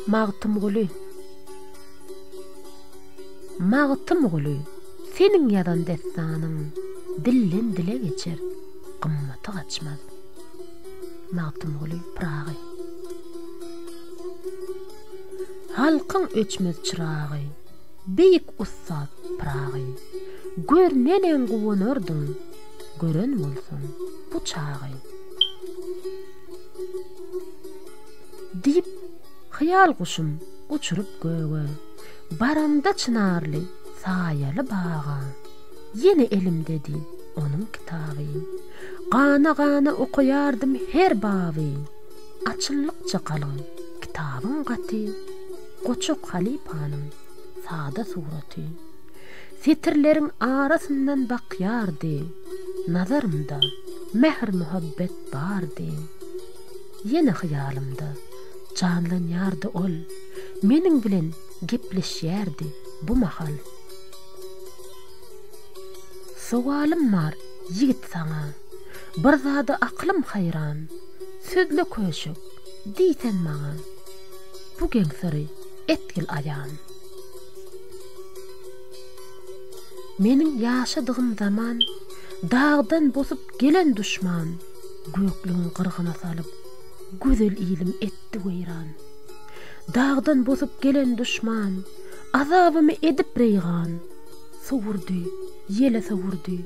Magtymguly Magtymguly seniň ýazan dessanyň dilden dile geçer gymmaty gaçmaz Magtymguly Pyragy Halkyň öçmez çyragy beýik ussat Pyragy görnenem guwanardyň gören bolsun bu çagy. Diýip, hyýal guşum uçuryp göge, Baramda çynarly, saýaly baga, Ýene elimdedi onuň kitaby. Gana-gana okaýardym her baby, Açyllykça galyň kitabyň gaty, Goçak halypanyň sada suraty. Setirleriň arasyndan bakýardy, Nazarymda mähir-muhabbet bardy. Ýene hyýalymda janlanýardy ol, Meniň bilen gepleşýärdi bu mahal. Sowalym bar, ýigit, saňa, Bir zada aklym haýran, Sözle köşek, diýsen maňa, Bu geň syry etgil aýan. Meniň ýaşadygym zaman, Dagdan bosup gelen duşman, Göklügiň gyrgyna salyp, Gözel ilim etdi weýran. Dagdan bosup gelen duşman, Azabymy edip reýgan, Sowurdy, ýele sowurdy,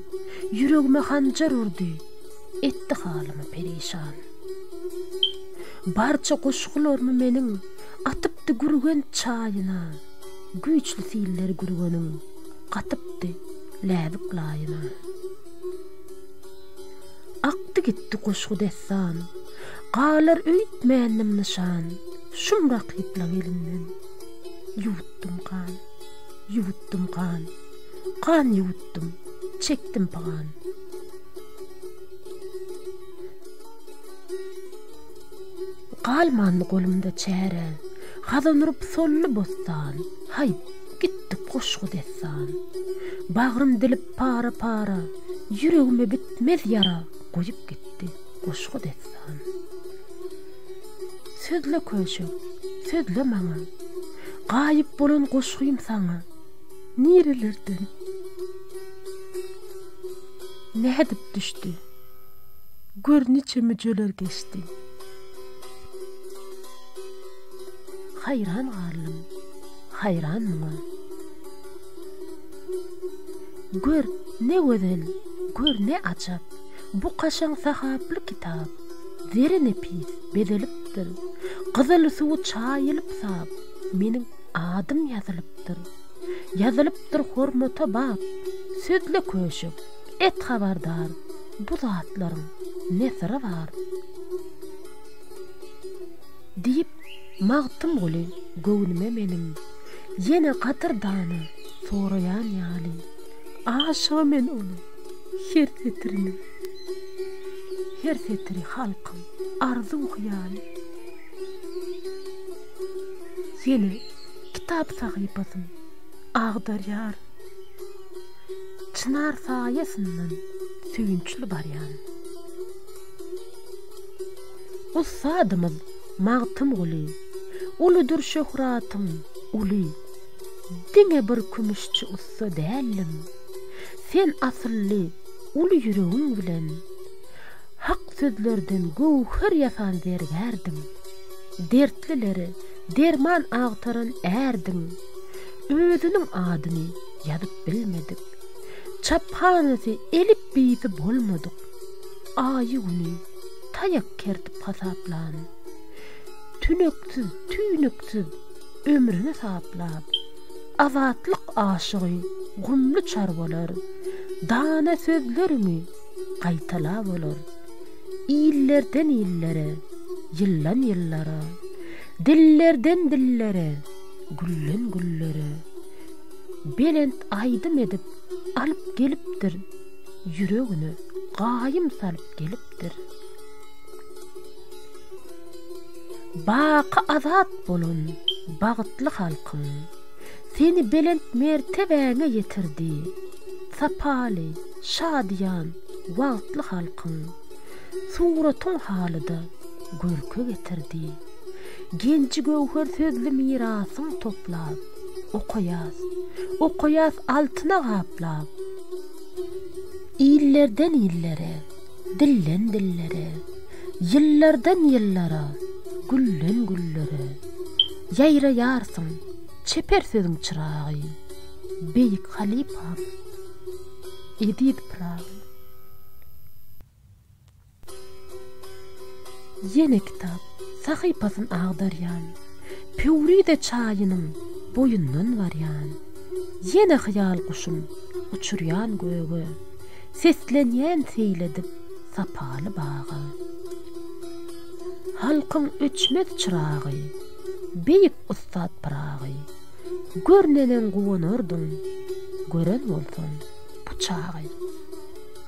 Ýüregime hanjar urdy, Etdi halymy perişan. Barça goşgularymy meniň, Atypdy Gürgenç çaýyna. Güýçli siller gürgeniň gatypdy läbik laýyna. Akdy gitdi goşgy dessan, galar öýtmändim nyşan, şum rakyplaň elinden. Ýuwutdym gan, ýuwutdym gan, gan ýuwutdym, çekdim pygan. Galmandy golumda çäre, Hazan urup solly bossan, Haý, gitdik goşgy-dessan. Bagrym dilip para-para, Ýüregime bitmez ýara Goýup gitdi goşgy-dessan. Sözle köşek, sözle maňa, Gaýyp bolan goşgym saňa, Nirelerden, nädip düşdi, Gör niçe müjeler geçdi. Haýran galdym, haýran muňa. Gör, ne gözel, gör, ne ajap, Bu kaşaň sahaply kitap. Zeri nepis, bezelipdir, Gyzyl suwy çaýylyp sap, Meniň adym ýazylypdyr. Ýazylypdyr hormata bap. Sözle köşek, et habardar, Bu zatlaryň ne syry bar? Diýip, Magtymguly göwnüme meniň Ýene gadyrdany soraýan ýaly. Aşygy men onuň her setiriniň Her setiri halkyň arzuw-hyýaly. Ýene kitap sahypasyn agdarýar Çynar saýasyndan söýünçli barýan. Ussadymyz Magtymguly, Uludyr şöhratym, uly. Diňe bir kümüşçi ussa däldim, Sen asylly, uly ýüregiň bilen, Hak sözlerden göwher ýasan zergärdiň, Dertlilere derman agtaran ärdiň. Özüniň adyny ýazyp bilmedik, Çaphanasy, elipbiýsi bolmadyk. Aýy-güni taýak kertip hasaplan. Tüneksiz, tüýnüksiz ömrüni saplap. Azatlyk aşygy gumly çarwalar dana sözleriňi gaýtalap olar. Illerden illere, ýyldan ýyllara, dillerden dillere, gülden güllere belent aýdym edip alyp gelipdir. ýüregine gaýym salyp gelipdir. Baky azat bolan bagtly halkyň, seni belent mertebäňe ýetirdi, sapaly, şadyýan, wagtly halkyň, suratyň halyda görke getirdi. Genji-göwher sözli mirasyň toplap. Okaýas, okaýas altyna gaplap. Illerden illere, dilden dillere, Ýyllardan ýyllara, gülden güllere. Ýaýraýarsyň, çeper sözüň çyragy, Beýik halypam, eziz Pyragy. Ýene kitap sahypasyn agdarýan, Pöwrize çaýynyň boýundan barýan. Ýene hyýal guşum uçurýan göge, Seslenýän seýledip sapaly baga. Halkyň öçmez çyragy, beýik ussat Pyragy, Görnenem guwanardyň, gören bolsaň bu çagy.